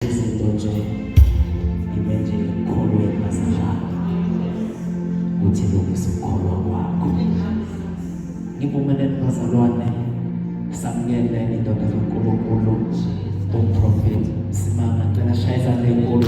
izinto nje ibe nje ekholweni basinjalo ukuthi lungisa ukukholwa kwakho ngivumeleni bazalwane samukele indoda zonkulunkulu umprofethi simanga cela shaya izandla enkulu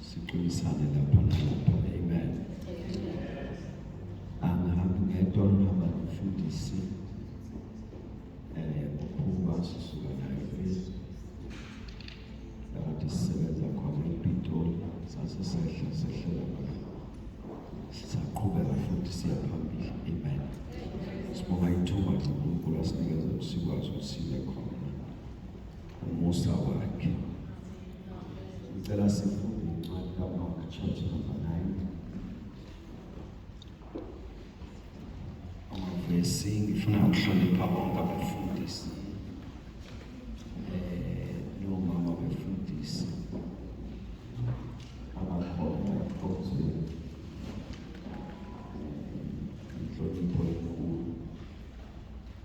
Siqinisane lapha nalapha. Amen. Angihambi ngedwa ngihamba nomfundisi eh uphuma sisuka naye phezulu. Lapho sisebenza khona ePitoli sase sehla sehlela lapha. Sisaqhubeka futhi siya phambili. Amen. Sibonga ithuba lokuNkulunkulu asinikeza sikwazi ukuthi sibe khona. Umusa wakhe. Ngicela sifunde incwadi kaMark chapter number 9. Amavesi ngifuna ukuhlonipha bonke abefundisi. Eh, no mama befundisi. Abakhona kodwa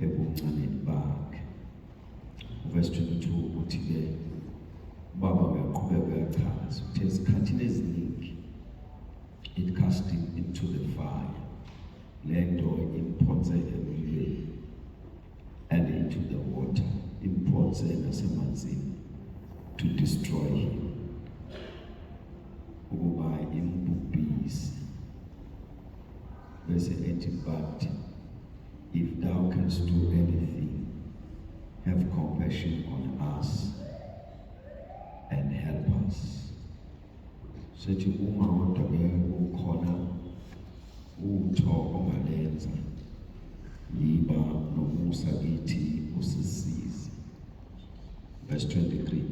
ebuncaneni bakhe. Verse 22 uthi ke ubaba uyaqhubeka uyachaza uthe esikhathini eziningi it casting into the fire lento imphonse emlilweni and into the water imphonse nasemanzini to destroy him ukuba imbubhise bese ethi but if thou canst do anything have compassion on us and help us sethi uma kodwa ke ukhona utho ongalenza yiba nomusa kithi usisize verse 23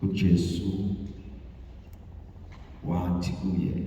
uJesu wathi kuye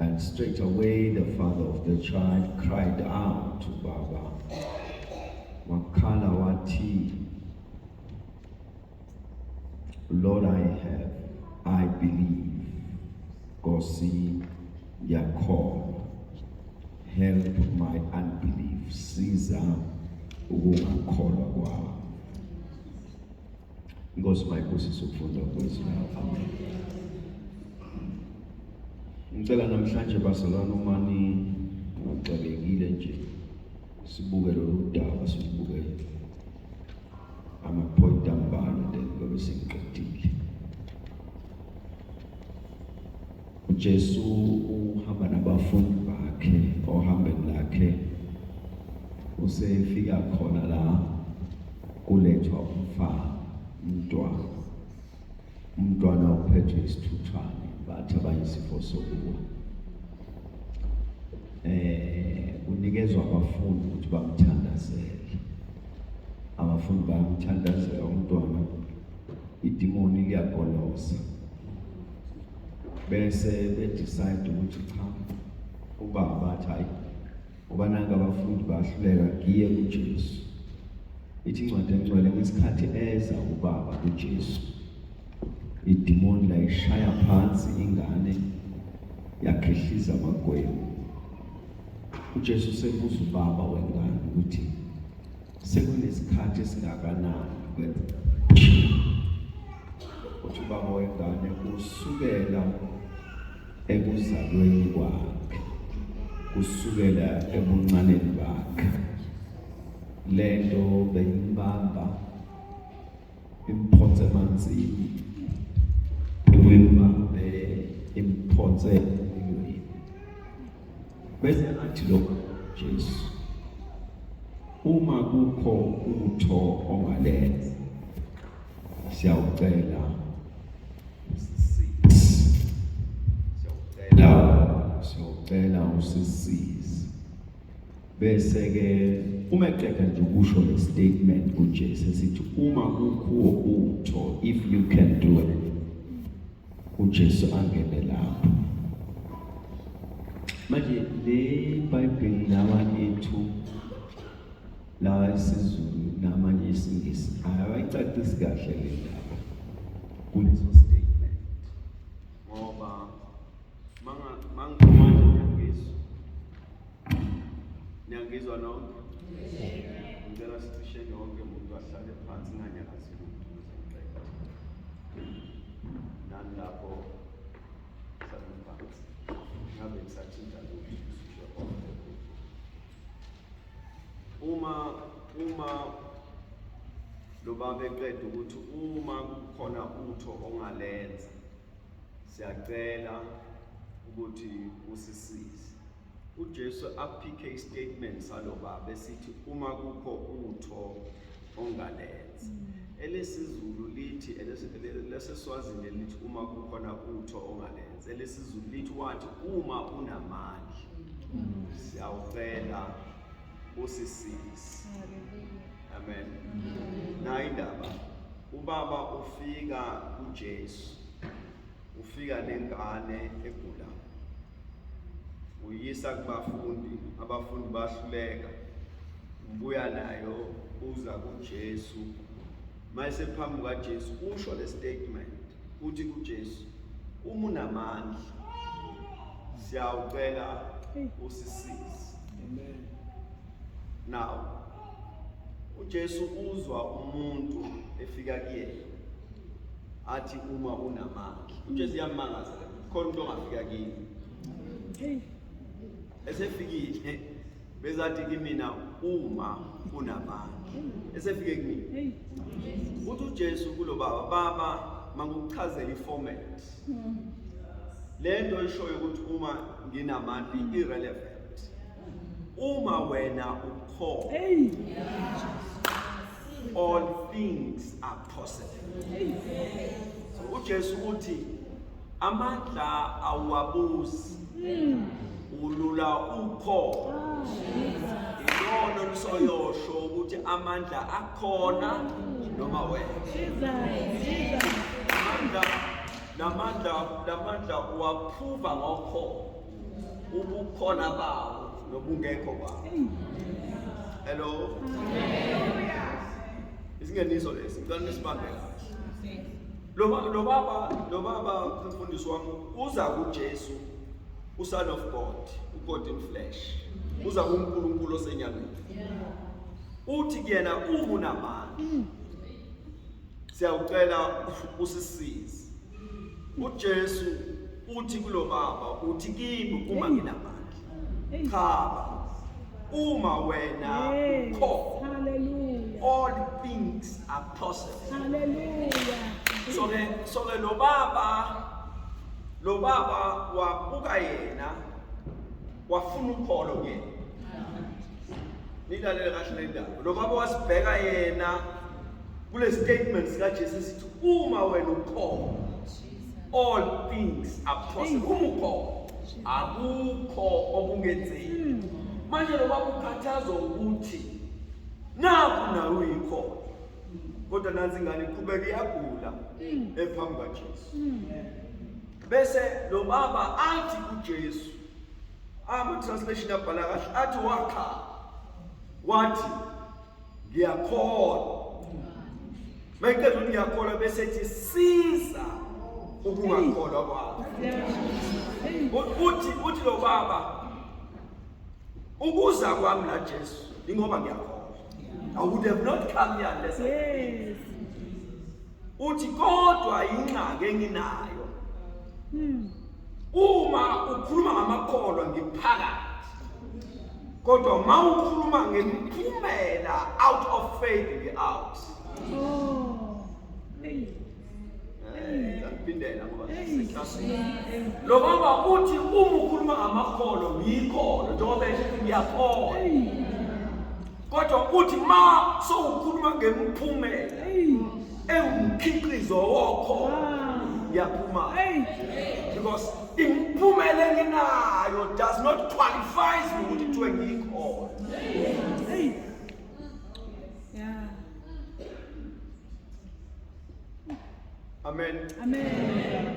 And straight away the father of the child cried out to Baba. Wakhala wathi, Lord, I have, I believe. Kosi yakholwa. Help my unbelief. Siza ukungakholwa kwami. Inkosi mayibusise ukufunda kwezwi layo. Amen. Ngicela namhlanje bazalwane uma nixakekile nje sibuke lolu daba sibuke ama-point ambalwa then ngobe sengiqedile. uJesu uhamba nabafundi bakhe ohambeni lakhe usefika khona la kulethwa umfana umntwana umntwana uphethwe isithuthwane bathi abayisifo sokuwa eh unikezwa abafundi ukuthi bamthandazele abafundi bamthandazela umntwana idimoni liyagoloza bese bedecide ukuthi cha ubaba bathi hayi ngoba nange abafundi bahluleka ngiye kujesu ithi incwadi engcwele ngesikhathi eza ubaba kujesu idimoni layishaya phansi ingane yakhehliza amagwebu ujesu sebuza ubaba wengane ukuthi sekunesikhathi esingakanani kwenzeka uthi ubaba wengane kusukela ekuzalweni kwakhe kusukela ebuncaneni bakhe lento beyibamba imphonse emanzini uyibambe imphonse emlilweni bese athi lokho Jesu uma kukho utho ongalenza siyawucela siyawucela siyawucela usisize Bese-ke uma eqeda nje ukusho le statement uJesu esithi uma kukhuwo utho if you can do it uJesu angene lapho manje le bhayibheli lawa ethu lawa isizulu namanye isingisi ayayicacisi kahle le ndaba kuleso statement ngoba manga manga Niyangizwa nonke? Ngicela sithisheke wonke umuntu ahlale phansi nganyakazi lutho ngizomqeda. Nani lapho hlale phansi. Ngabe ngisathinta lutho sisho konke. Uma uma lo baba eqeda ukuthi uma kukhona utho ongalenza siyacela ukuthi usisize uJesu aphikhe istatement salo baba esithi uma kukho utho ongalenza mm. elesizulu lithi leseswazini elithi uma kukhona utho ongalenza elesizulu lithi wathi uma unamandla mm. siyawucela usisisi amen nayi indaba ubaba ufika kuJesu ufika nengane egulayo uyisa kubafundi abafundi bahluleka ubuya nayo uza kuJesu mayise phambi kaJesu usho le statement uthi kuJesu uma unamandla siyawucela usisize amen now uJesu uzwa umuntu efika kuyena athi uma unamandla uJesu uyamangaza khona umuntu ongafika kini esefikile bezathi kimina uma unamandla esefike kumina uthi uJesu kulo baba baba mangukuchazela iformat lento eshoyo ukuthi uma nginamandla irrelevant Uma wena ukhona. Hey. All things are possible. So uJesu uthi amandla awabuzi. Hmm. Ulula ukho. Ilono ah, lisoyosho ukuthi amandla akhona noma wena. Amandla namandla namandla uwaphuva ngokho. ubukhona bawo nobungekho bawo hello isingeniso lesi ngicela nisibambe kahle lo baba lo baba umfundisi wami uza kuJesu uSon of God uGod in flesh uza kuNkulunkulu osenyameni uthi kuyena ungunamandla siyawucela usisize uJesu uthi kulo baba uthi kimi uma nginamandla cha uma wena ukho hallelujah all things are possible hallelujah so ke so ke lo baba lo baba wabuka yena wafuna ukholo kuyena nilalele kahle le ndaba lo baba wasibheka yena kule statement sikajesu sithi uma wena ukhona all things are possible uma ukhona akukho okungenzeki hmm. manje loba kukhathazwa ukuthi naku nawe uyikhona kodwa nansi ingane iqhubeka iyagula hmm. ephambi kwajesu hmm. bese lo baba athi kujesu ama-translation abhala kahle athi wakhala wathi ngiyakholwa mayiqeda ukuthi ngiyakholwa bese ethi siza ukungakholwa kwakho uthi uthi lo baba ukuza kwami la Jesu ingoba ngiyakholwa I would have not come here unless I yes. uthi kodwa ingxaki enginayo hmm. uma ukhuluma ngamakholwa ngiphakathi kodwa uma ukhuluma ngemiphumela out of faith ngi-out oh, ngiphindela ngoba lo baba uthi uma ukhuluma ngamakholwa ngiyikholo njengoba esho ngiyakholwa kodwa uthi ma sowukhuluma ngemiphumela ewumkhiqizo wokho yaphuma because imiphumela enginayo does not qualifies me ukuthi kuthiwe ngiyikhona Amen. Amen.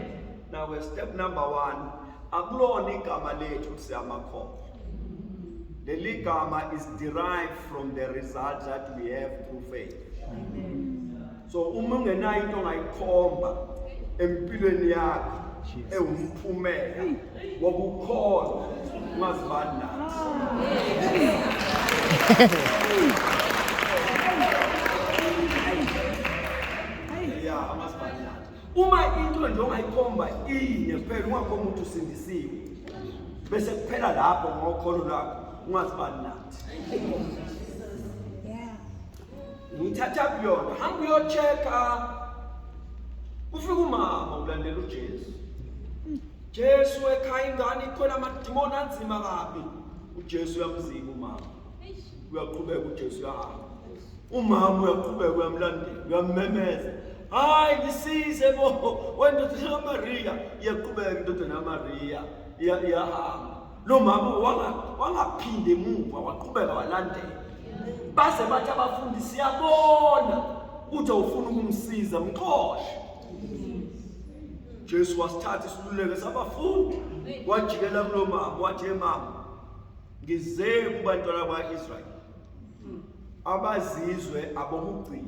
Now we step number 1 akulona igama lethu siyamakhomo. Leli gama is derived from the result that we have through faith. Amen. So uma ungenayo into ongayikhomba empilweni yakho ewumphumela ngoba ukhona ungazibani nathi ya amazibani nathi uma into nje ongayikhomba iyinye kuphela ungakhomba ukuthi usindisiwe bese kuphela lapho ngokholo lwakho ungazibani nathi ngithatha kuyona hamba uyocheka ufika umama ulandela ujesu Jesu ekhaya ingane ikhona amadimoni anzima kabi. UJesu uyamzika umama. Uyaqhubeka uJesu uyahamba. Umama uyaqhubeka uyamlandela, uyammemeza. Hayi ngisize bo, wendodana kaMariya, iyaqhubeka indodana kaMariya, iyahamba. Lo mama wangaphinde emuva, waqhubeka walandela. Baze bathi abafundisi, siyabona ukuthi awufuni ukumsiza, mxoshe. Jesu wasithatha isiluleko sabafundi wajikela kulo mama wathi mama ngize kubantwana bakwa-israyeli abazizwe abokugcina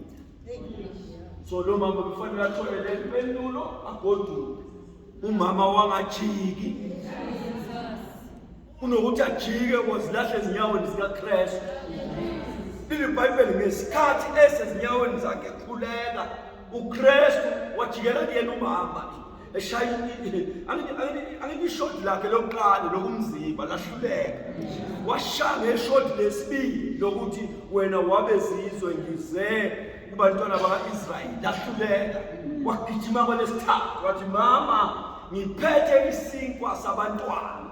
so lo mama kufanele athole le mpendulo agoduke umama wangajiki kunokuthi ajike kozilahle ezinyaweni zikaKristu leli bhayibheli ngesikhathi esezinyaweni zakhe ekhuleka uKristu wajikela kuyena umama eshaya angilishodi lakhe lokuqala lokumzimba lahluleka washaya ngeshodi lesibili lokuthi wena wabezizwe ngize kubantwana baka-israyeli lahluleka wagijima kwalesithathu wathi mama ngiphethe isinkwa sabantwana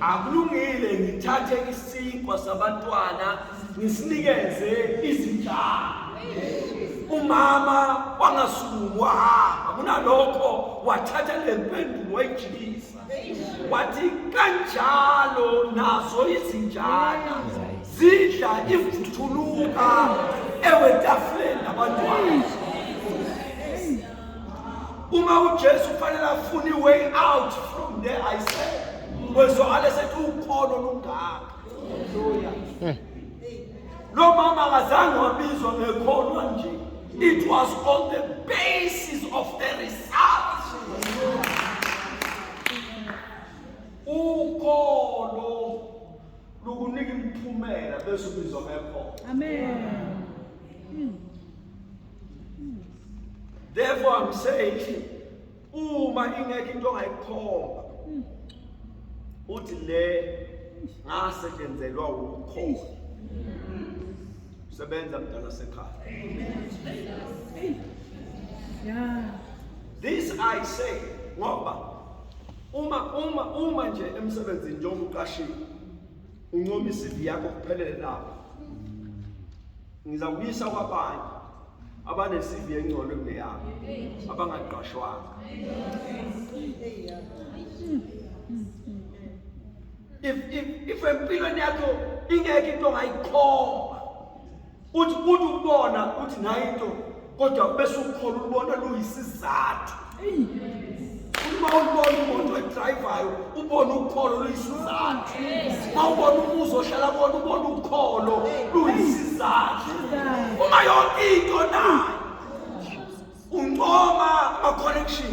akulungile ngithathe isinkwa sabantwana ngisinikeze izinhlanga umama wangasukumu wahamba kunalokho wathatha le mpendulo wayijikisa wathi kanjalo nazo izinjana zidla ivuthuluka ewetafuleni labantwana uma ujesu kufanele afune i-way out from there i said wezwakale sethi ukholo lungaka hmm. Lo mama akazange wabizwa ngekholwa nje. It was on the basis of the results. Ukholo lukunika imiphumela bese ubizwa ngekholwa. Amen. Therefore, I'm saying uma ingekho into ongayikhomba uthi le ngasetshenzelwa ukukhola sebenza mdala sekhaya this i say ngoba uma uma uma nje emsebenzini njengoba uqashiwe uncoma isivi yakho kuphelele lapho ngizakuyisa kwabanye abanesivi engcono kuneyami abangaqashwanga if if if empilweni yakho ingeke into ongayikhomba uthi uthi ubona uthi nayo into kodwa kube sukukhola ulubona luyisizathu uma ulubona umuntu edrayivayo ubone ukholo luyisizathu uma ubona umuzi ohlala kona ubone ukholo luyisizathu uma yonke into nayo uncoma ma-connection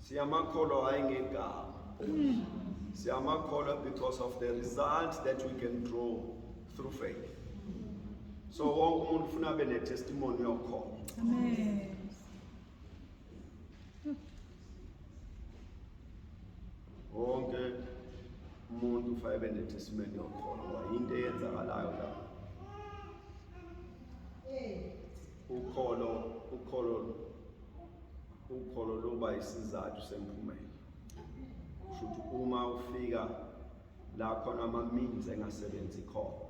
Siyamakholwa hayi ngegama. Siyamakholwa because of the results that we can draw through faith. So wonke umuntu ufuna abe ne-testimony yokholo. Amen. Wonke umuntu ufuna abe ne-testimony yokholo ngoba yinto eyenzakalayo la. Ukholo, ukholo, ukholo luba isizathu semphumela. Kusho ukuthi uma ufika la khona ama-means engasebenzi khona,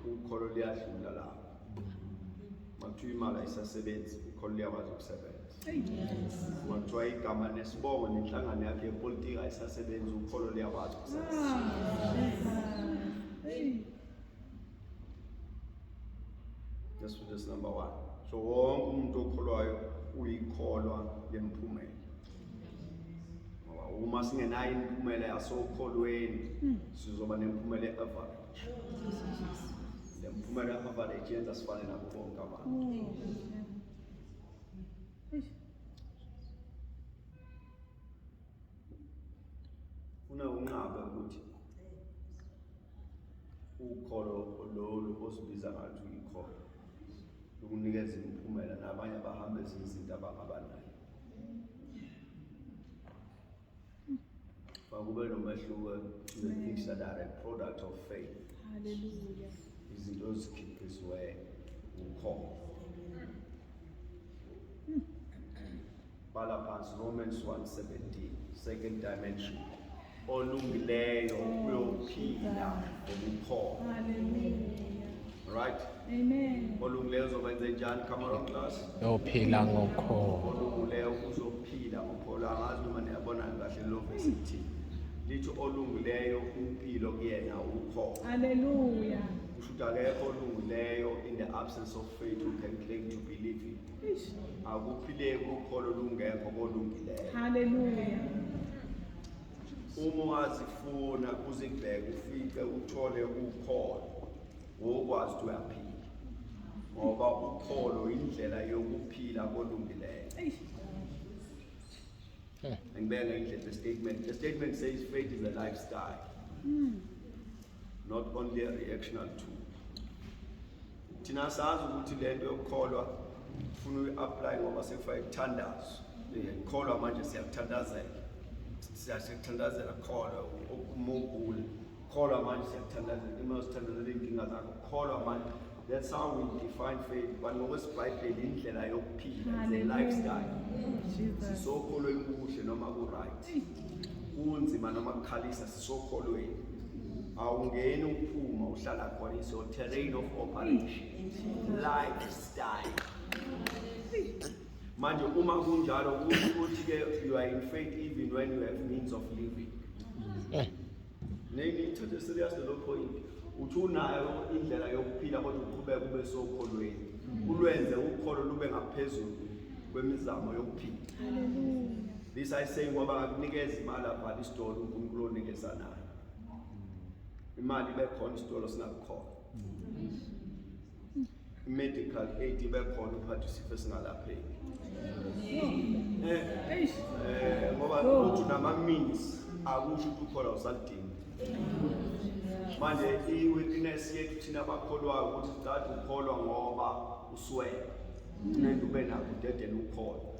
ukholo luyadlula lapho. Makuthiwa imali ayisasebenzi, ukholo luyakwazi ukusebenza. Makuthiwa igama nesibongo nenhlangano yakhe yepolitiki ayisasebenzi, ukholo luyakwazi ukusebenza. Yesu Jesu number 1 so wonke umuntu okholwayo uyikholwa lemphumela ngoba uma singenayo imiphumela yasokholweni hmm. sizoba nemphumela e-average le mphumela e-average yenza sifane nabo bonke abantu hmm. funa unqabe ukuthi ukholo lolu osibiza ngathi uyikholo lukunikeza imiphumela nabanye abahambe ezinye izinto abangabanayo makube nomehluko ne-things that are a product of faith haleluya izinto ezikhiphiziweyo ukholo Bhala phansi Romans 1:17 second dimension. Olungileyo uyophila ngokukhona. Hallelujah. Right? Amen. Olungileyo uzokwenza njani camera class? Uyophila ngokukhona. Olungileyo uzophila ngokukhona. Angazi noma niyabona kahle lo verse ithini. Lithi olungileyo impilo kuyena ukhona. Hallelujah. Kusho ukuthi akekho olungileyo in the absence of faith who can claim to believe in akuphileki ukholo lungekho kolungileyo haleluya uma ungazifuna uzibheke ufice uthole ukholo wokwazi ukuthi uyaphila ngoba ukholo indlela yokuphila kolungileyo angibeka indlela statement the statement says faith is a lifestyle mm. not only a reactional tool thina sazi ukuthi lento yokukholwa ufuna uyi-apply ngoba sekufake kuthandazo ngikholwa manje siyakuthandazela siyakuthandazela kukholwa umugule kukholwa manje siyakuthandazela uma uzithandazela iy'nkinga zakho kukholwa manje That's how we define faith. But ngokwesibhayibheli indlela yokuphila is a lifestyle. Sisokholweni kuhle noma ku-right. Kunzima noma kukhalisa sisokholweni. Awungeni uphuma uhlala khona is your terrain of operation. Lifestyle. Manje uma kunjalo kusho ukuthi ke you are in faith even when you have means of living. Eh. Nengithathe serious lo point. Uthi unayo indlela yokuphila kodwa uqhubeka kube sokholweni. Mm. Ulwenze ukholo lube ngaphezulu kwemizamo yokuphila. This I say ngoba ngakunikeza imali abhala isitolo uNkulunkulu onikeza nayo. Imali ibe khona isitolo singakukhona. Mm. medical aid ibe khona uphatha isifo esingalapheki eh, eh ngoba uthi nama means akusho ukuthi ukhola usalidinga manje i-witness yethu thina abakholwayo ukuthi sidade ukholwa ngoba uswele nento ube nakho dedela ukholwa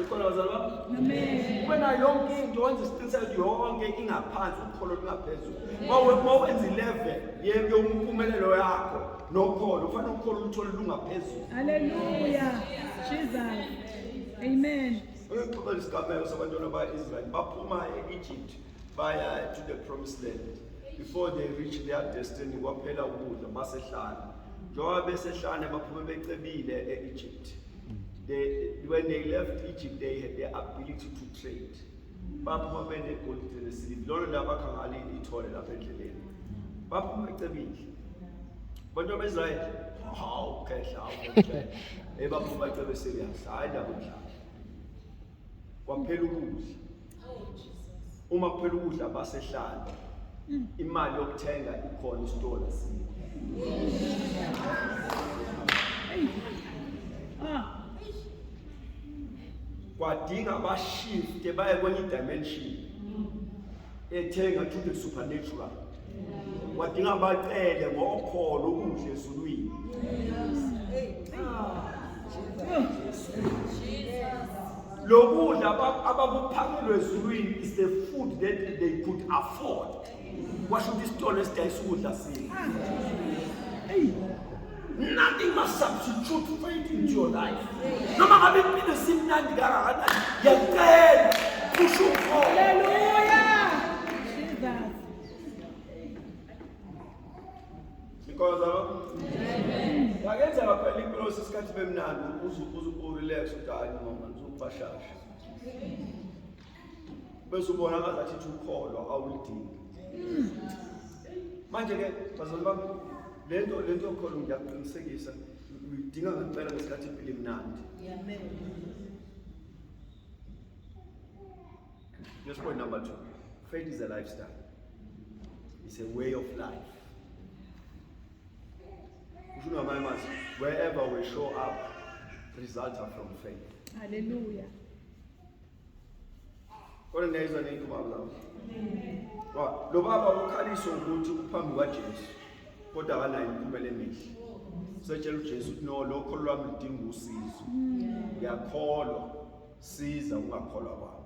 Ukhona bazali bami? Amen. Wena yonke into wenza isiqiniseko yonke ingaphansi ukholo lungaphezulu. Mawe mawenza 11 yeke umpumelelo yakho nokholo ufanele ukholo uthole lungaphezulu. Hallelujah. Jesus. Amen. Uyixoxela isigameko sabantwana ba-Israyeli baphuma e-Egypt baya to the promised land before they reach their destiny kwaphela ukudla basehlane njengoba besehlane baphume becebile e-Egypt They, when they left Egypt, they had the ability to trade. Baphuma benegolide nesiliva. Lolo ndaba bakha ngalo ithole lapha endleleni. Baphuma ecebile. Abantu abeZrayeli, hawu khehla, hawu khehla. Ebaphuma ecebe serious. Hayi ndaba omdlalo. Kwaphela ukudla. uma kuphela ukudla basehlala mm. imali yokuthenga ikhona isitolo sini kwadinga bashifte baye kwenye dimension ethenga to the supernatural wadinga bacele ngokholo ukudla ezulwini lokudla abakuphakelwe ezulwini is the food that they could afford washo ukuthi isitolo esidayisa ukudla sini nothing must substitute faith into your life noma ngabe impilo simnandi kangakanani yacela kusho ukholo Because of Bakenza ngaphela inkosi isikhathi bemnandi uze uze urelax uthi hayi mama ngizokubashasha. Bese ubona ngazathi ukholwa awulidingi. Manje ke bazali bami lento lento yokholo ngiyaqinisekisa uyidinga ngempela ngesikhathi impilo imnandi. Amen. Just point number two. Faith is a lifestyle. It's a way of life. Kusho ngamanye amazwi, wherever we show up, results are from faith. Hallelujah. Kodwa ngiyayizwa nento baba lapho. Wa, lo baba ukhaliswa ukuthi uphambi kwaJesu kodwa akanayo imiphumela emihle. Usetshela uJesu ukuthi no lokho lwami ludinga usizo. Ngiyakholwa. siza ungakholwa kwabo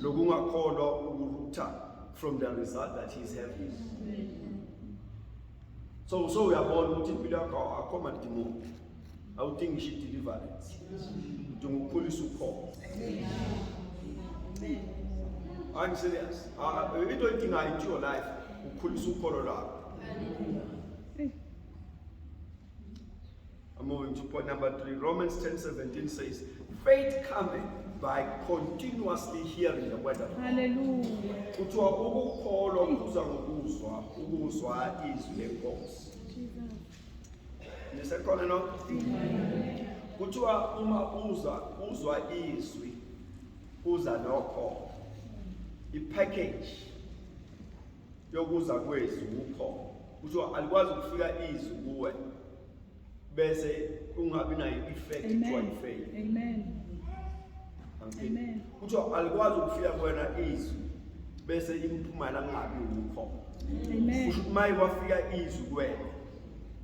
lokungakholwa ukurutha from the result that he is having so so uyabona ukuthi impilo yakho akho madimoni awudingi ngisho i-deliverance udinga ukukhulisa ukhona I'm serious. Uh, we don't think I your life. Ukhulisa ukholo lwakho. I'm moving to point number three. Romans 10 17 says, Faith cometh by continuously hearing the word of God. Hallelujah. Kuthiwa ukukholwa kuza ngokuzwa ukuzwa izwi lenkosi. Nisekhona no? Kuthiwa uma uza uzwa izwi kuza nokho. I-package yokuza kwezwi ukho. Kuthiwa alikwazi ukufika izwi kuwe. bese ungabi nayo i-effect kuthiwa i-fail amen amen kuthiwa alikwazi ukufika kuwena izwi bese imphumela kungabi wukho amen kusho ukuthi maye kwafika izwi kuwena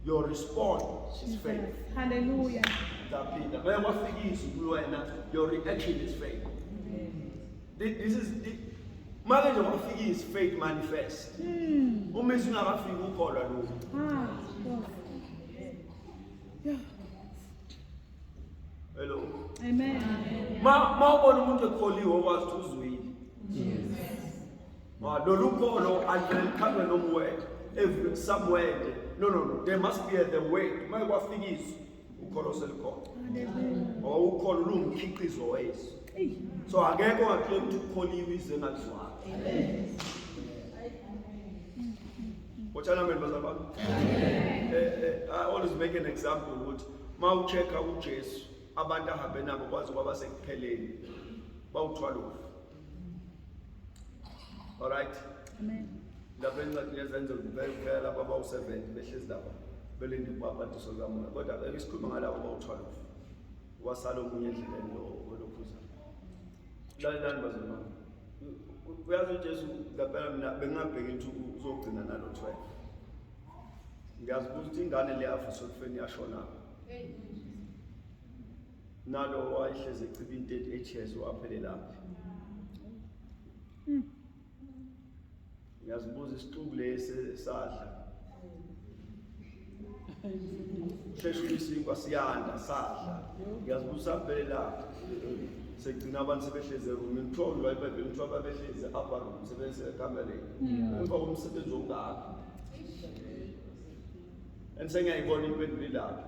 your response is faith hallelujah ndaphinda maye kwafika izwi kuwena your reaction is faith This is Manje nje kwafika is faith manifest. Hmm. Uma isingakafiki ukholwa lokho. Ah. Yeah. Hello. Amen. Ma ma ubona umuntu ekholiwe okwazi ukuthi uzwile. Yes. Ma lolu kholo alivele likhanywe noma wena. Every somewhere. No no no. There must be a the way. Uma kwafikiswa ukholo selukhona ngoba ukholo lungumkhiqizo wesu so akekho ongathule ukuthi ukholiwe ize ngalizwanga Wotshana mina bazalwa bami. Eh, eh, I always make an example ukuthi uma uchecka uJesu abantu ahambe nabo kwazi kwaba sekupheleni bawuthwala ufu. All right. Amen. Lapha incwadi yezenzo ngibekela baba u-70 behlezi lapha belinde ukuba abantu sokamoya kodwa ke isikhuluma ngalabo bawu-12 wasala omunye endleleni olokhuza lalelani bazimama uyazi ujesu ngempela mina bengingabheki ukuthi uzogcina nalo 12 ngiyazibuza ukuthi ingane le afisa ukufeni yashonaphi nalo wayehlezi eciba into ethi echezo waphelelaphi hmm. ngiyazibuza isixuku lesi sadla sheshe uyisinkwa siyanda sadla ngiyazibuza saphelelaphi sekugcina abantu sebehlezi erumi kuthiwa ulwa ibhayibheli kuthiwa babehlezi upper room sebesekamereni emva komsebenzi ongaka and sengiyayibona impendulo ilapho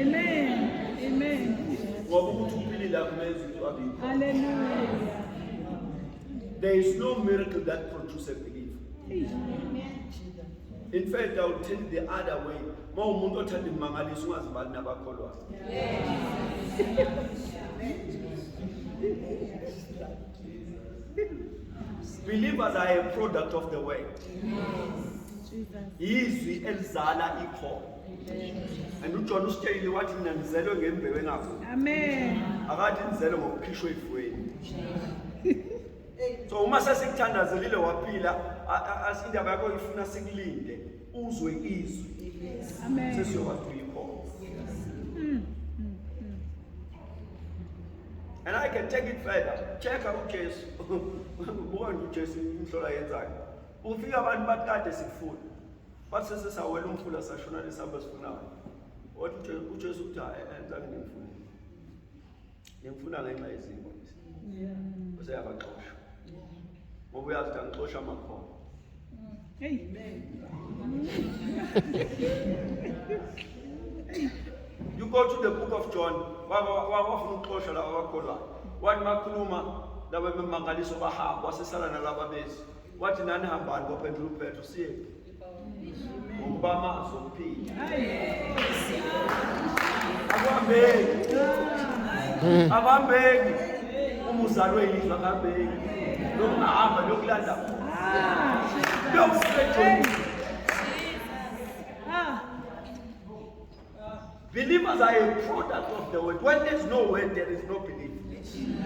Amen. Amen. Ngoba ukuthi uphilile akumenzi into abikho. Hallelujah. There is no miracle that produces belief. In fact, I would tell the other way. Uma umuntu othanda imangaliso ungazibali nabakholwayo. Believers are a product of the word. Izwi elizala ikhono. and ujohn usitsheyile wathi mina ndizelwe ngembewu engafuni amen akathi ndizelwe ngokukhishwa efweni so uma sesikuthandazelile waphila indaba yakho ifuna sikulinde uzwe izwi sesiyokwazi uyikhona mm, mm, mm. and i can take it further checka ujesu buka nje ujesu inhlola yenzayo ufika abantu bathi kade sikufuna Wathi sesesawela umfula sashona lesihamba sifunayo. Wathi uJesu uthi hayi angizange ngimfune. Ngimfuna ngenxa yezimo lezi. Yeah. Useyabaxosha. Ngoba uyazi ukuthi angixosha amakhono. Amen. you go to the book of John. Wafuna ukuxosha laba bakholwayo. Wathi makhuluma laba bemangaliso bahamba wasesala nalaba bezi. wathi nani hambani kwaphethu uphethu siyephi ngokuba amazi okuphila akuhambeki hmm. akuhambeki uma uzalwe yizwe akuhambeki lokungahamba lokulanda lokusejonisa Believers are a product of the word. When there's no word, there is no belief.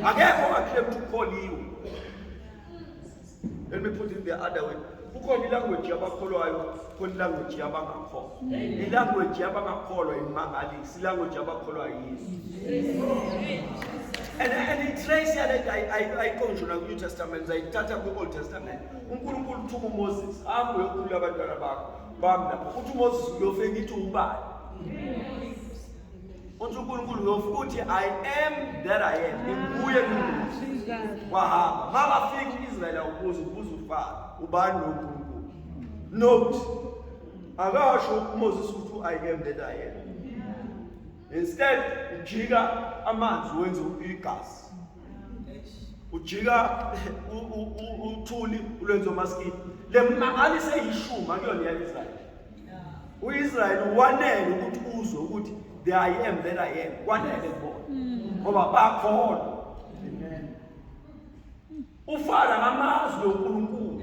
Akekho ongaclaim to call you. Let me put it the other way. kukhona ilanguage yabakholwayo khona ilanguage yabangakholwa ilanguage yabangakholwa imangalisi ilanguage yabakholwayo yini and, and itrace yale nto ayiqonjwe nakwi-new testament zayithatha kwi-old testament unkulunkulu uthuka umoses hambe uyokhulula abantwana bakho bami lapho ukuthi umoses uyofe ngithi ubani uthi unkulunkulu uyofe uthi i am that i am nginguye nginguye wahamba ma bafika u-israyeli awubuza ubuza ufaka ubani lo nkulunkulu note akasho umoses ukuthi u-i am that i am instead ujika amanzi wenze igazi ujika uthuli ulwenzo maskini le mangani seyishuma kuyona yaIsrael uIsrael wanele ukuthi uzwe ukuthi the i am that i am kwanele kubona mm. ngoba bakhona ufana ngamazwi oNkulunkulu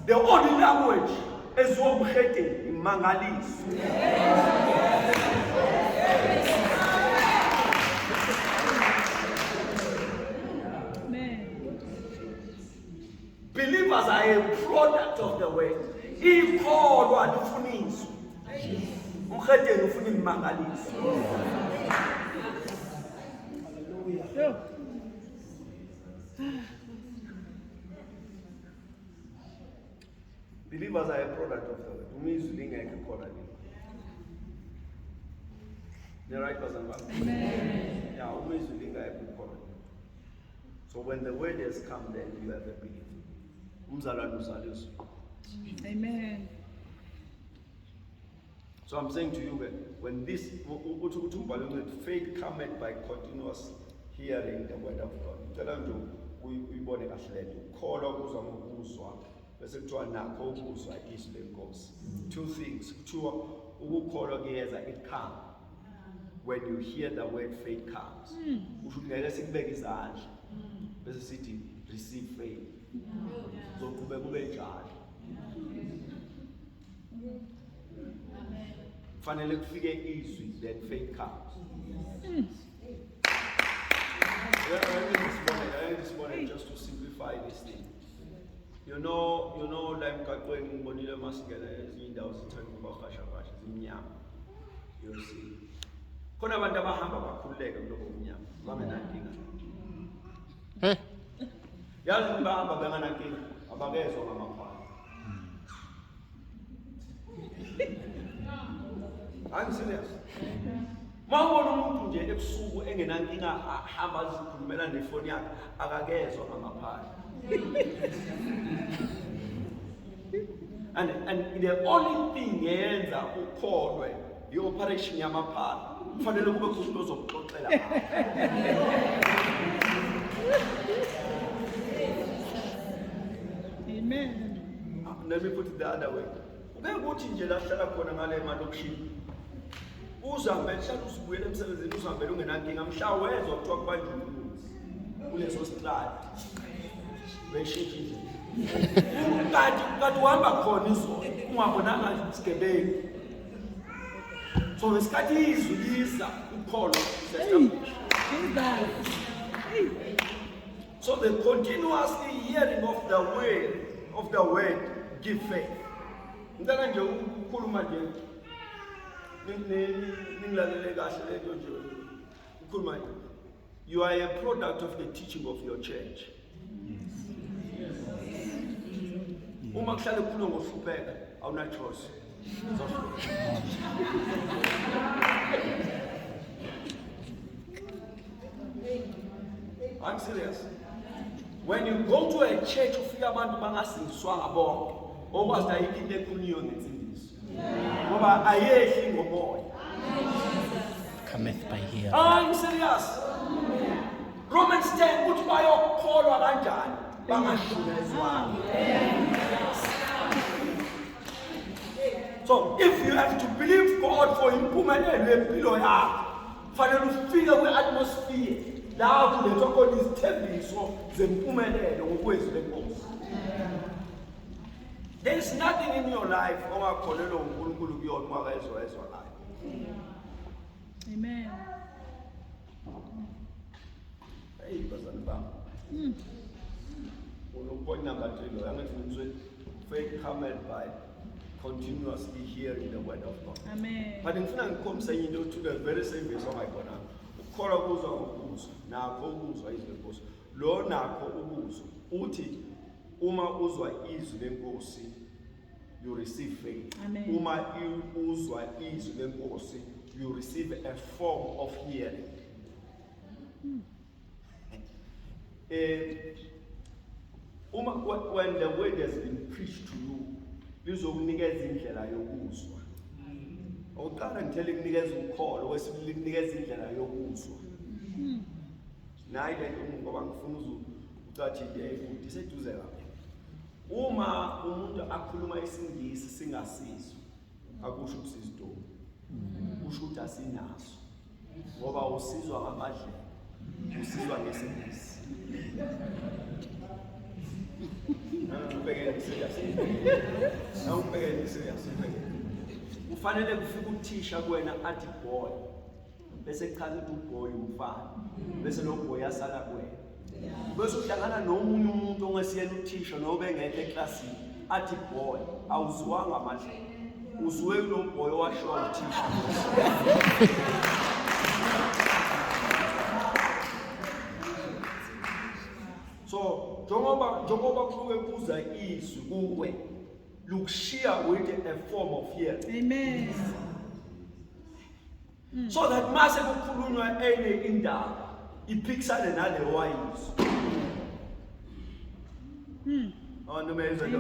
the only language eziwa umhedeni imangaliso believers are a product of the word ikholwa lifuniswa umhedeni ufuna imangaliso Believers are a product of the word. Umizwi lingekho khona lini. The right person back. Amen. Yeah, umizwi lingekho khona. So when the word has come then you have a belief. Umzalwane uzaliswa. Amen. So I'm saying to you that when this, uthi ukuthi umbhalo oncedi, faith cometh by continuous hearing the word of God. Ngicela nje uyibone kahle lento. Ukukholwa kuza ngokuzwa bese kuthiwa nakho ukuzwa izwi lenkosi. Two things. Kuthiwa ukukholwa kuyeza it come. When you hear the word faith comes. Hmm. Usho ukuthi ngeke sikubeke izandla. Hmm. Bese sithi receive faith. Zoqhubeka ube njalo. kufanele kufike izwi then faith comes isibonelo just to simplify this thing you know you know la emgaqweni ngibonile uma singena ezinye indawo sithanda ukubahashahasha zimnyama you see khona abantu abahamba bakhululeke kuloko kumnyama bangenankinga yazi bahamba benganankinga abakezwa ngamakhwala I'm serious. Mawubona umuntu nje ebusuku engenankinga ahamba azikhulumela nefoni yakhe akakezwa ngamaphahla. and, and the only thing yenza ukholwe i-operation yamaphala kufanele kube khona umuntu ozokuxoxela Amen. Ah, let me put it the other way ube kuthi nje lahlala khona ngale malokishini uzahambe hlala uzibuyele emsebenzini uzihambele ungenankinga mhla wezwa kuthiwa kubanjwa umbuzi kuleso sitradi beshintshe indlela kanti kanti uhamba khona izolo ungabonanga sigebengu so ngesikhathi izwi liza ukholo so the continuously hearing of the word of the word give faith ngicela nje ukukhuluma nje ningilalele kahle lento nje ukhuluma nje You are a product of the teaching of your church. Uma kuhlale kukhuluma ngokuhlupheka awuna choice. I'm serious. When you go to a church ufika abantu bangasindiswanga bonke. Okwazi ayikho into ekhulunywa ngensindiso. ngoba ayehli ngomoya cometh by hearing hayi ah, serious Romans 10 uthi bayokholwa kanjani bangashunezwanga so if you have to believe God for impumelelo yempilo yakho fanele ufike kwi-atmosphere la kulethwa khona izithembiso zempumelelo ngokwezwi lenkosi There is nothing in your life ongakholelwa uNkulunkulu kuyona uma ezwa ezwa nayo. Amen. Hey bazali bami. Mm. Unopoint number 3 lo angathi ngizwe faith hammered by continuously hearing the word of God. Amen. But ngifuna ngikhombise into othule very same verse ongayibonanga. Ukukholwa kuzwa ngokuzwa nakho ukuzwa izwi lenkosi. Lo nakho ukuzwa uthi uma uzwa izwi lenkosi you receive faith Amen. uma uzwa izwi lenkosi you receive a form of hearing hmm. eh uma when the word has been preached to you lizokunikeza indlela yokuzwa hmm. oqala ngithele kunikeza ukholo wesibili kunikeza indlela yokuzwa hmm. nayi le nto ngoba ngifuna uzucathi yayikude iseduze kabi uma umuntu akhuluma isingisi singasizwa akusho ukuthi sizidomu kusho ukuthi asinaso ngoba usizwa ngamadlela usizwa ngesingisi Ubhekele serious. Na ubhekele serious. Ufanele kufika uthisha kuwena athi boy. bese kuchaza ukuthi uboy umfana bese lo boy asala kuwena bese uhlangana nomunye umuntu ongesiyena uthisha nobe engekho eklasini athi boy awuzwanga manje uzwe lo boy washo uthisha so njengoba njengoba kusuke kuza izwi kuwe look sheer with a form of fear. Amen. mm. so that mase kukhulunywa enye indaba iphikisane nale wayizo mm. oh noma yenza lo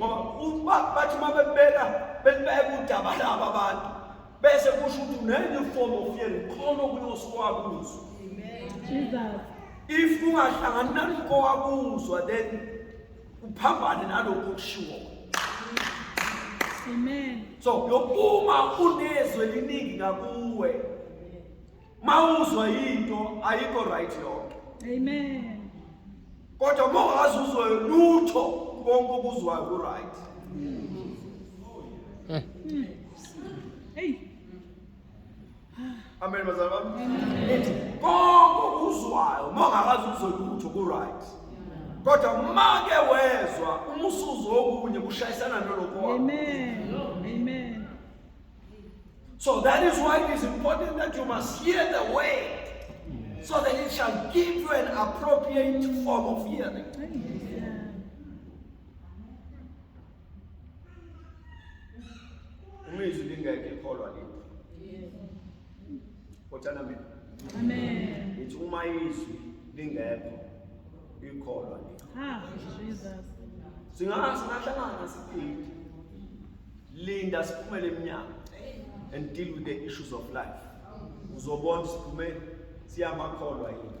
ngoba uba bathi uma bebeka belibeka udaba laba abantu bese kusho ukuthi unenye form of fear khona okuyoswakuzo amen jesus if ungahlangani nalokho wakuzwa then uphambane nalokho okushiwo Amen. So yokuma unezwe liningi ngakuwe. Mawuzwa into ayikho right yonke. Amen. Kodwa mongazi uzwe lutho konke okuzwayo ku right. Mm. Hey. Amen bazalwa bami. Nithi konke okuzwayo uma ungakazi ukuzolutho ku right. Kodwa uma ke wezwa uma usuzwa okunye kushayisana nolokho. Amen. Amen. So that is why it is important that you must hear the word so that it shall give you an appropriate form of hearing. uma izwi lingeke ikholwa liphi kotshana mina ngithi uma izwi lingekho ikholwa liphi singahlangana siphinde linda siphumele emnyango and deal with the issues of life uzobona siphume siyamakholwa yini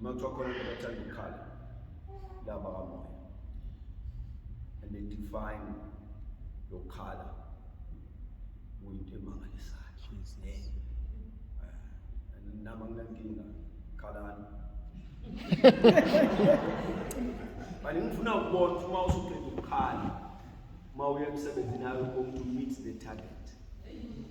uma kuthiwa khona into abathanda ukukhala laba kamoya and they define lokukhala kuyinto emangalisayo eh, nama nginankinga khalani Manje ngifuna ukubona ukuthi uma usuqeda ukukhala uma uya emsebenzini ayo ukuthi meet the target.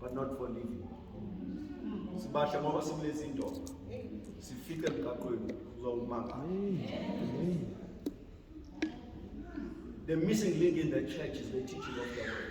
but not for living sibasha ngoba sikulezi nto sifice emgaqweni uzowumanga the missing link in the church is the teaching of the word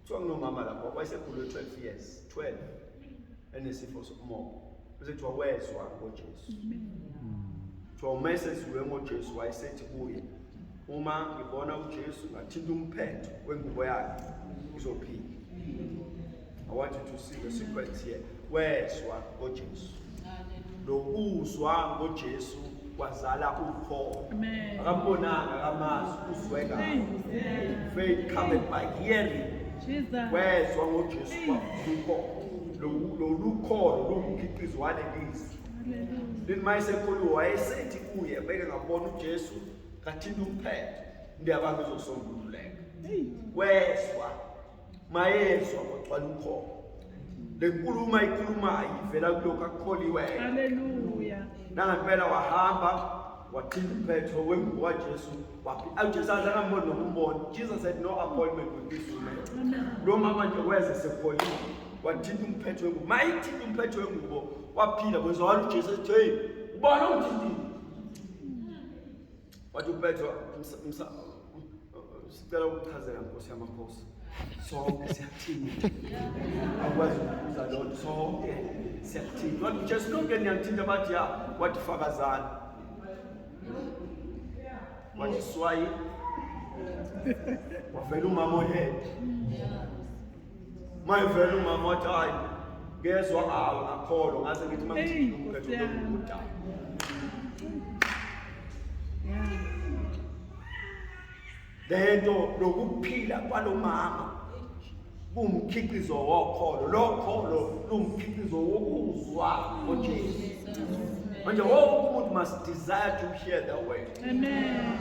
Kuthiwa kunomama lapho wayesekhulwe 12 years, 12 enesifo sokumoba. Bese kuthiwa wezwa ngoJesu. Kuthiwa uma eseziwe ngoJesu wayesethi kuye, uma ngibona uJesu ngathinta umphetho wengubo yakhe ngizophila. I want you to see the secret here. wezwa ngoJesu nokuzwa ngoJesu kwazala ukholo akambonanga akamazi uzwe ngayo faith coming by hearing wezwa ngoJesu kwakholo lolukholo lungumkhiqizo walelizwi lini mayesekhulu wayesethi kuye beke ngabona uJesu kathinta umphetho ndiyabanga izosombululeka wezwa mayezwa kwagcwala ukhona le nkulumo ayikhulumayo ivela kulokhu akukholiweyo haleluya nangempela wahamba wathinta umphetho wengubo kajesu ujesu aze angamboni noma umbona jesus had no appointment with this woman lo mama nje weze sekholile wathinta umphetho wengubo mayithinta umphetho wengubo waphila kwezwakala ujesu ethi heyi ubona ungithintile wathi upetro sicela ukuchazela nkosi yamakhosi sonke siyathini akwazi ukubuza lonto sonke siyathini wathi ujesu lonke niyangithinta bathi ya wathi fakazani wathi swayi wavela umama ohede mayivele umama wathi hayi ngezwa awu akholwa ngaze ngithi uma ngithini umkhetho lokuda lento lokuphila kwalomama kumkhiqizo wokholo lokholo lumkhiqizo wokuzwa ngoJesu manje wonke umuntu must desire to hear the word amen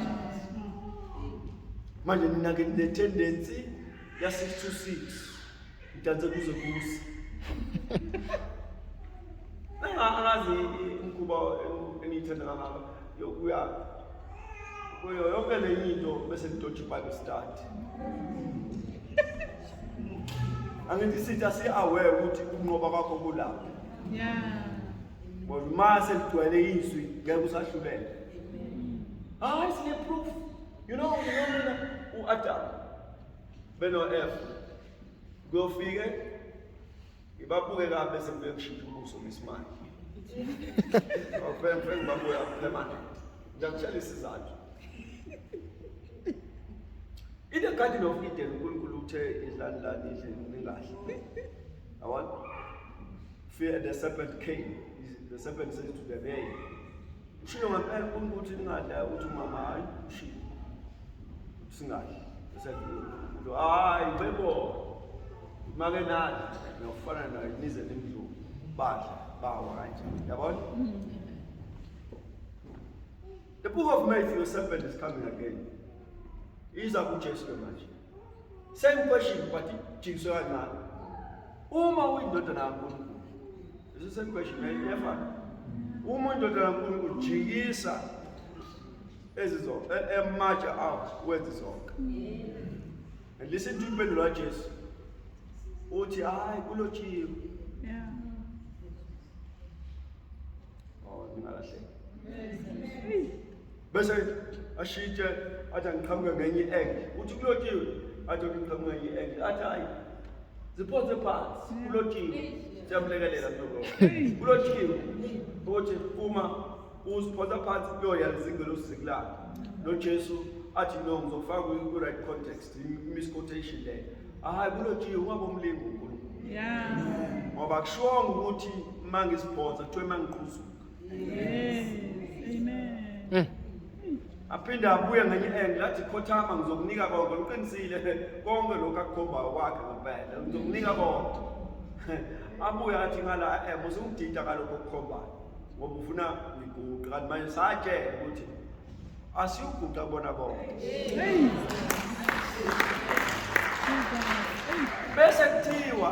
manje nina ke ne tendency ya 626 udanse kuze kusi angazi umkhuba engiyithanda kangaka yokuya kuyo yonke le into bese ngidodge bible study angithi sithi asi-aware ukuthi ukunqoba kwakho kulapho ngoba uma seligcwele izwi ngeke usahlulele hayi sine-proof you know you know mina u-adamu beno-f kuyofike ngibabuke kabi bese ngibuye kushintsha ubuso ngesimanje ofenfe ngibabuya permanent ngiyakutshela isizathu in the garden of eden unkulunkulu uthe idlani lani idle ningahle Yabona? Fear the serpent came. The serpent said to the bear, ushilo ngempela uNkulunkulu ukuthi ningadla ukuthi umama hayi ushilo. Singadli. He said, hayi bebo. Make nani nokufana nayo nize nimdlulu. Badla bawa kanje. Yabona? The book of Matthew, the serpent is coming again. Iza kuJesu manje. Same question but ijikiswe kancane. Uma uyindodana kaNkulunkulu, is the same question iyafana. Uma uyindodana kaNkulunkulu jikisa ezizo emaja out wenze zonke. And listen to impendulo kaJesu. Uthi hayi kulotshiwe. Yeah. Oh, ngingalahleki. bese ashitshe athi angiqhamuke ngenye i-angle uthi kulotiwe athi ngiqhamuke ngenye i-angle athi hayi ziphonse phansi kulotiwe siyamlekelela mhlobo kulotiwe ukuthi uma uziphonsa phansi kuyoya lizingelosi zikulapha nojesu athi no ngizokufaka kwi-right context misquotation leyo ahayi kulotiwe ungabomlingi unkulunkulu ngoba kushonga ukuthi uma ngiziphonsa kuthiwa uma ngiqhuzuka Mm. aphinde abuye ngenye engi lathi khothama ngizokunika konke uqinisile konke lokhu akukhombayo kwakhe ngempela ngizokunika konke abuye athi ngala em usungidida ngalokho okukhombayo ngoba ufuna ngiguqe kanti manje satshela ukuthi asiyuguqa bona bonke bese kuthiwa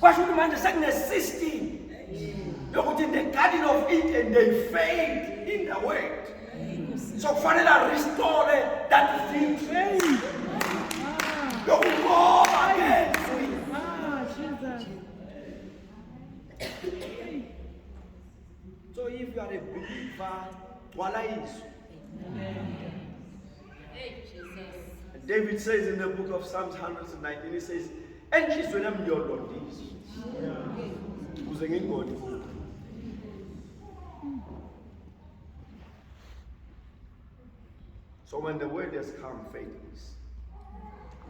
kwasho ukuthi manje sekunesystem yokuthi in the garden of eden they failed in the word so kufanele arestore that victory yokunqoba ngezwi so if you are a believer gcwala izwi David says in the book of Psalms 119, he says, enhlizweni yami ngiyolondisa kuze ngingoni futhi so when the word has come faith is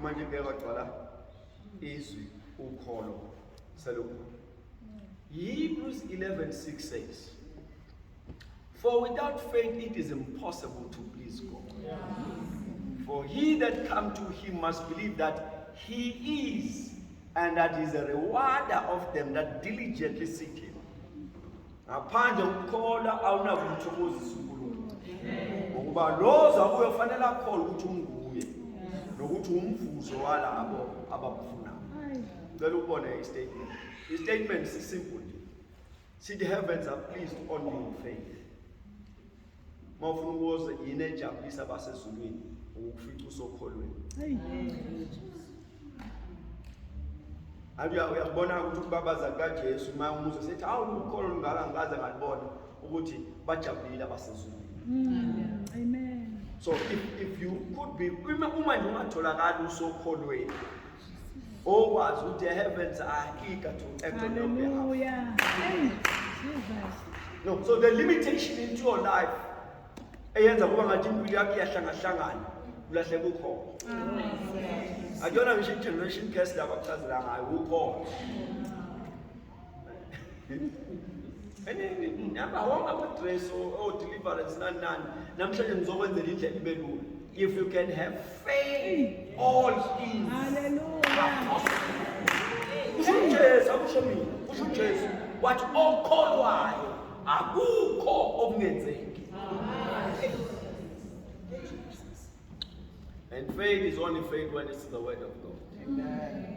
manje ngeke kwagcwala izwi ukholo selokhu Hebrews 11:6 says For without faith it is impossible to please God. Yeah. For he that come to him must believe that he is, and that he is a rewarder of them that diligently seek him. Ngaphandle ukukholwa awunakumthokozisa uNkulunkulu. Ngokuba loza kuyo fanele akholwe ukuthi unguye nokuthi umvuzo walabo abakufunayo. Cela ubone istatement. Istatement sisimple nje. Sithi heavens are pleased on your faith. Mawufuna ukuze yini ejabulisa basezulwini ukufica usokholweni. Abuya uyabona ukuthi ukubabaza kaJesu uma umuze sethi awu ukholo lungaka ngikaze ngalibona ukuthi bajabulile abasezulwini. Mm. Amen. So if, if you could be uma uma nje ungatholakala usokholweni okwazi ukuthi the heavens are eager to act on your behalf. Hallelujah. Hey, Jesus. No, so the limitation into your life eyenza kuba ngathi impilo yakho iyahlangahlangana ulahleka ukhona akuyona ngisho i-generation case laba kuchazela ngayo ukhona nihamba wonke amadress o-deliverance nani nani namhlanje ngizokwenzela indlela ibe lula if you can have faith all things kusho ujesu akusho mina kusho ujesu wathi okholwayo akukho okungenzeki and faith is only faith when it's the word of god Amen.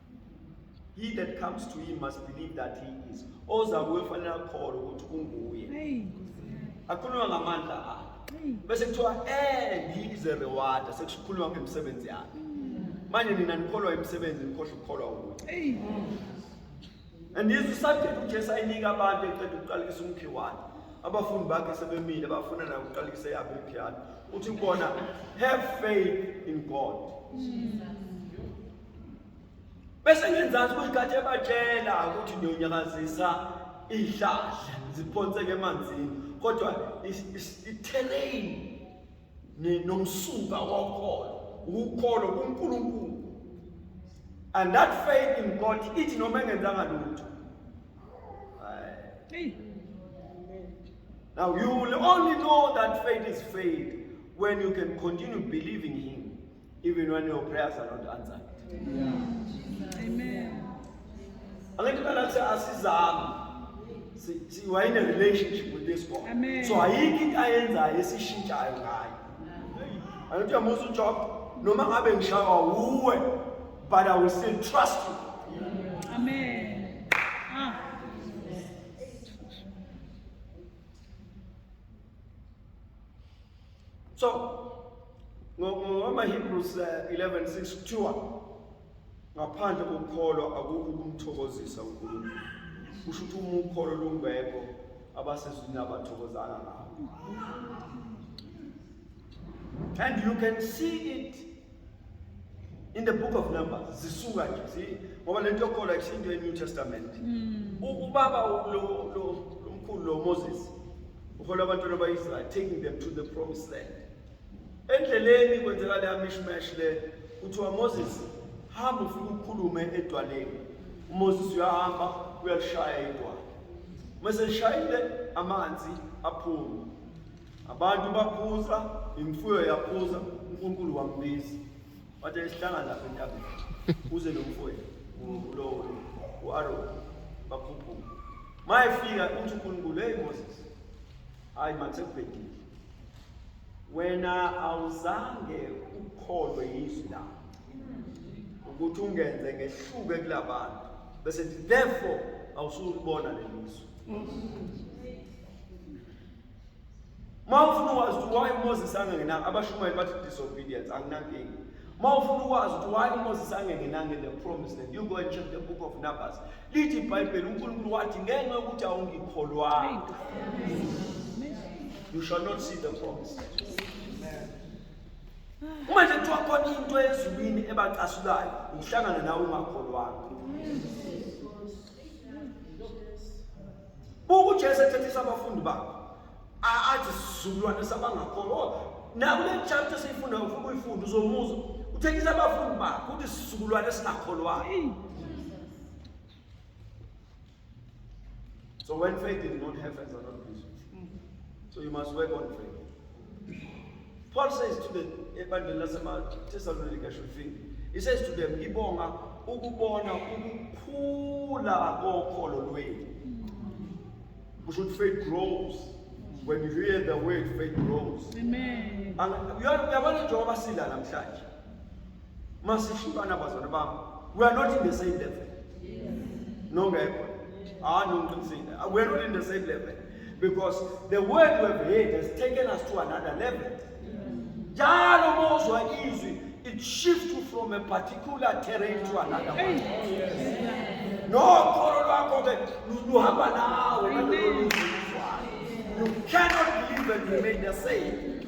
He that comes to him must believe that he is. Oza kuye fanele akholwe ukuthi unguye. Akhulunywa ngamandla akhe. Bese kuthiwa and he is a rewarder sekukhulunywa ngemisebenzi yakhe. Manje nina nikholwa imisebenzi nikhohle ukukholwa ukuthi. And this is subject uJesu ayinika abantu eqeda ukuqalisa umkhi wakhe. Abafundi bakhe sebemile bafuna nayo ukuqalisa yabo imkhi yakhe. Uthi kubona have faith in God. Jesus. bese ngenzansi kuyikhathi ebatshela ukuthi ngiyonyakazisa iy'hlahla ziphonseke emanzini kodwa i-terrain nomsuka wokholo ukukholo kunkulunkulu and that faith in god ithi noma engenzanga lutho now you will only know that faith is faith when you can continue believing him Even when your prayers are not answered. Yeah. Amen. Angithi phela kuthi asizami. Si si we in a relationship with this God. Amen. So ayikho into ayenzayo esishintshayo ngayo. Angithi uyamusa uJob noma ngabe ngishawa wuwe but I will still trust you. Amen. Ah. so ngomaHebrews 11:6 eh, kuthiwa ngaphandle kokukholwa akukho ukumthokozisa uNkulunkulu kusho ukuthi uma ukholo lungekho abasezwini abathokozanga ngawo and you can see it in the book of numbers zisuka nje zi ngoba lento yokholwa isinto e-new testament mm. ubaba lo lo lomkhulu lo moses uhola abantwana ba-israyeli taking them to the promised land endleleni kwenzeka leya mishmash le kuthiwa moses hamba ufike ukhulume edwaleni umoses uyahamba uyalishaya idwala uma selishayile amanzi aphume Abantu baphuza, imfuyo yaphuza, uNkulunkulu wambiza. Wathi esihlangana lapha entabeni. Uze lo mfowethu ulowo u-Aroni bakhuphuka. Mayefika uthi uNkulunkulu, hey Moses, hayi masekubhedile. Wena awuzange ukholwe yizwi lami ukuthi ungenze ngehluke kulabantu bese therefore awusulibona lelizwe Uma ufuna ukwazi ukuthi why uMoses angenanga abashumayeli bathi disobedience anginankingi. Uma ufuna ukwazi ukuthi why uMoses angengenanga in the promise land you go and check the book of Numbers. Lithi iBhayibheli uNkulunkulu wathi ngenxa yokuthi awungikholwanga. You shall not see the promise. Uma nje kuthiwa khona into ezulwini ebacasulayo, ngihlangana nawe ungakholwanga. buka ujesu ethethisa abafundi bakhe athi sizukulwane sabangakholwa oh, nakule chapter esiyifundayo ufuna uyifunda uzomuza uthekisa abafundi bakhe ukuthi sizukulwane esingakholwayo So when faith is not heavens are not busy. So you must work on faith. Paul says to them, ebandleni laseThesalonika should think. He says to them, ngibonga ukubona ukukhula kokholo lwenu. We should faith grows. When you hear the word, faith grows. Amen. Uyabona njengoba sila namhlanje. Masishukana bazalwane bami. We are not in the same level. No ngekho. Ah no ngiqinisile. Ah, we are not in the same level because the word we have heard has taken us to another level. Njalo mozwa izwi it shifts you from a particular terrain to another one. No kholo lwakho ke luhamba nawe nalolu luzwa. You cannot believe and remain the same.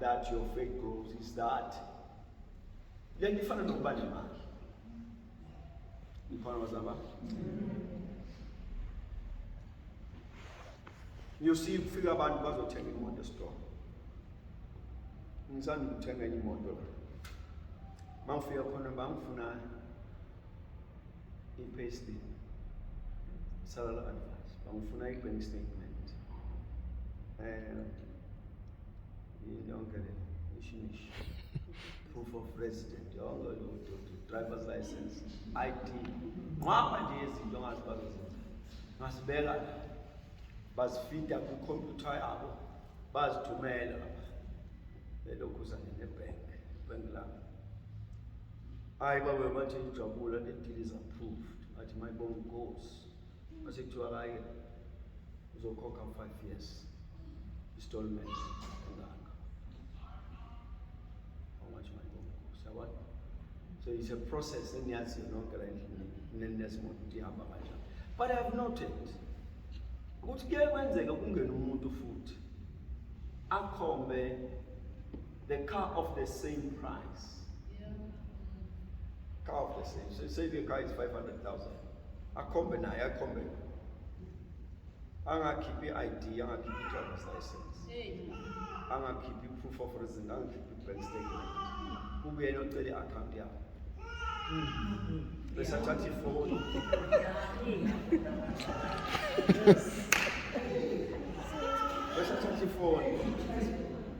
that your faith grows is that le nto ifana nokuba nemali ikhona bazaba you see kufika abantu bazothenga imoto esitolo ngisanda ukuthenga enye imoto la mangifika khona bangifuna i-payslip salary advice bangifuna i-bank statement um yonke le ishinishi proof of resident yonke lento driver's license id nqwaba nje yezinto ongazi bazozenza ngasibeka la bazifida kwikhompyutha yabo bazithumela lapha belokhu zanenebhenki ibhenki lami hayi babe bathi ujabula the deal is approved athi mayibonga inkosi mase kuthiwa kaye uzokhokha five years istolment engaka how much mayibonga inkosi yabona so it's a process engiyaziyo nonke la endlini nenesimo ukuthi ihamba kanjani but i have noted ukuthi kuye kwenzeka kungena umuntu futhi akhombe the car of the same price. Yeah. Car of the same. So say the car is 500,000. Akhombe naye akhombe. Angakhiphi ID, angakhiphi driver's license. Angakhiphi proof of residence, angakhiphi bank statement. Kubuyena ocele account yakho. Bese athatha ifoni. Bese athatha ifoni.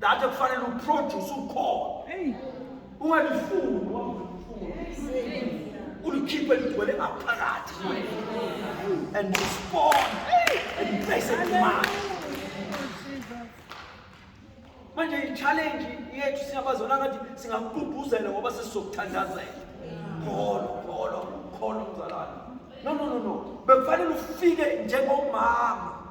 Dade kufanele uproduce ukhona. Hey. Ungalifuni ulikhiphe ligcwele ngaphakathi and respond and place it demand. Manje i-challenge yethu siyabazona ngathi singakugqugquzela ngoba sesizokuthandazela. Kholo, kholo, kholo mzalwane. No no no no. Bekufanele ufike njengomama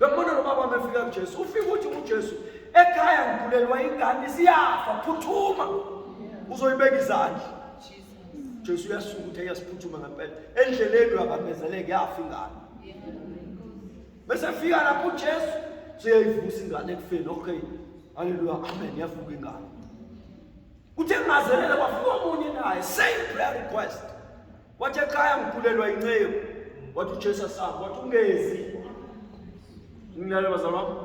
Bembona lo baba mefika kuJesu. Ufika uthi uJesu ekhaya ngigulelwa ingane siyafa phuthuma. Uzoyibeka izandla. Jesu uyasuka uthi ayasiphuthuma ngempela. Endleleni uyabamezeleka yafa ingane. Bese fika lapho uJesu siyayivusa ingane ekufeni. Okay. Haleluya. Amen. Yavuka ingane. Kuthe ngazelele kwafika omunye naye same prayer request. Wathi ekhaya ngigulelwa inceku. Wathi uJesu asaba, wathi ungezi. Nginalo bazalwa.